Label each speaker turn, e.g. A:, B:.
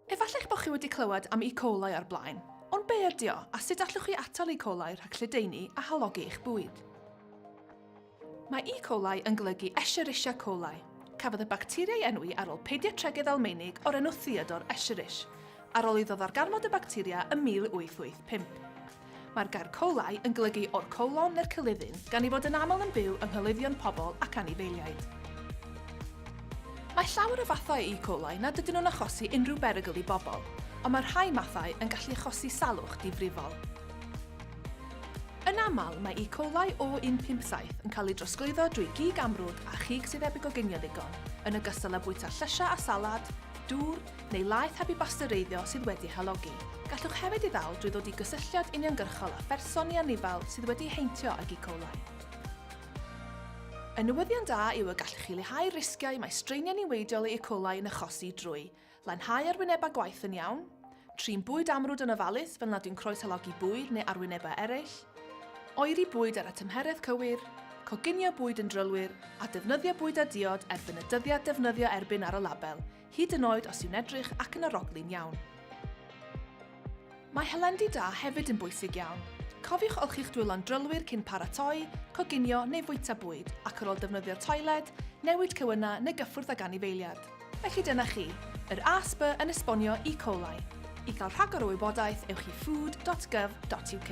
A: Efallai eich bod chi wedi clywed am E. coli o'r blaen, ond be ydy o, a sut allwch chi atal E. coli rhag lledaenu a halogi eich bwyd? Mae E. coli yn golygu Escherichia coli. Cafodd y bacteria ei enwi ar ôl pediatregydd Almaenig o'r enw Theodor Escherich, ar ôl iddo ddarganfod y bacteria ym 1885. Mae'r gair colau yn golygu o'r colon neu'r cylidyn, gan ei fod yn aml yn byw yng nghylyddion pobl ac anifeiliaid. Mae llawer o fathau E. coli nad ydyn nhw'n achosi unrhyw berygl i bobl, ond mae rhai mathau yn gallu achosi salwch difrifol. Yn aml, mae E. coli O157 yn cael ei drosglwyddo drwy gig amrwd a chig sydd heb ei goginio ddigon, yn ogystal â bwyta llysiau a salad, dŵr, neu laeth heb ei basteureiddio sydd wedi ei halogi. Gallwch hefyd ei ddal drwy ddod i gysylltiad uniongyrchol â pherson neu anifail sydd wedi ei heintio ag E. coli. Y newyddion da yw y gallwch chi leihau'r risgiau mae straeniau niweidiol i E. coli yn achosi drwy lanhau arwynebau gwaith yn iawn, trin bwyd amrwd yn ofalus fel nad yw'n croeshalogi bwyd neu arwynebau eraill, oeri bwyd ar y tymheredd cywir, coginio bwyd yn drylwyr, a defnyddio bwyd a diod erbyn y dyddiad defnyddio erbyn ar y label, Hyd yn oed os yw'n edrych ac yn aroglyn iawn. Mae helendi da hefyd yn bwysig iawn. Cofiwch olchi'ch dwylo'n drylwyr cyn paratoi, coginio neu fwyta bwyd, ac ar ôl defnyddio toiled, newid cywynna neu gyffwrdd ag anifeiliad. Felly dyna chi, yr ASB yn esbonio E. coli. I gael rhagor o wybodaeth, ewch i food.gov.uk.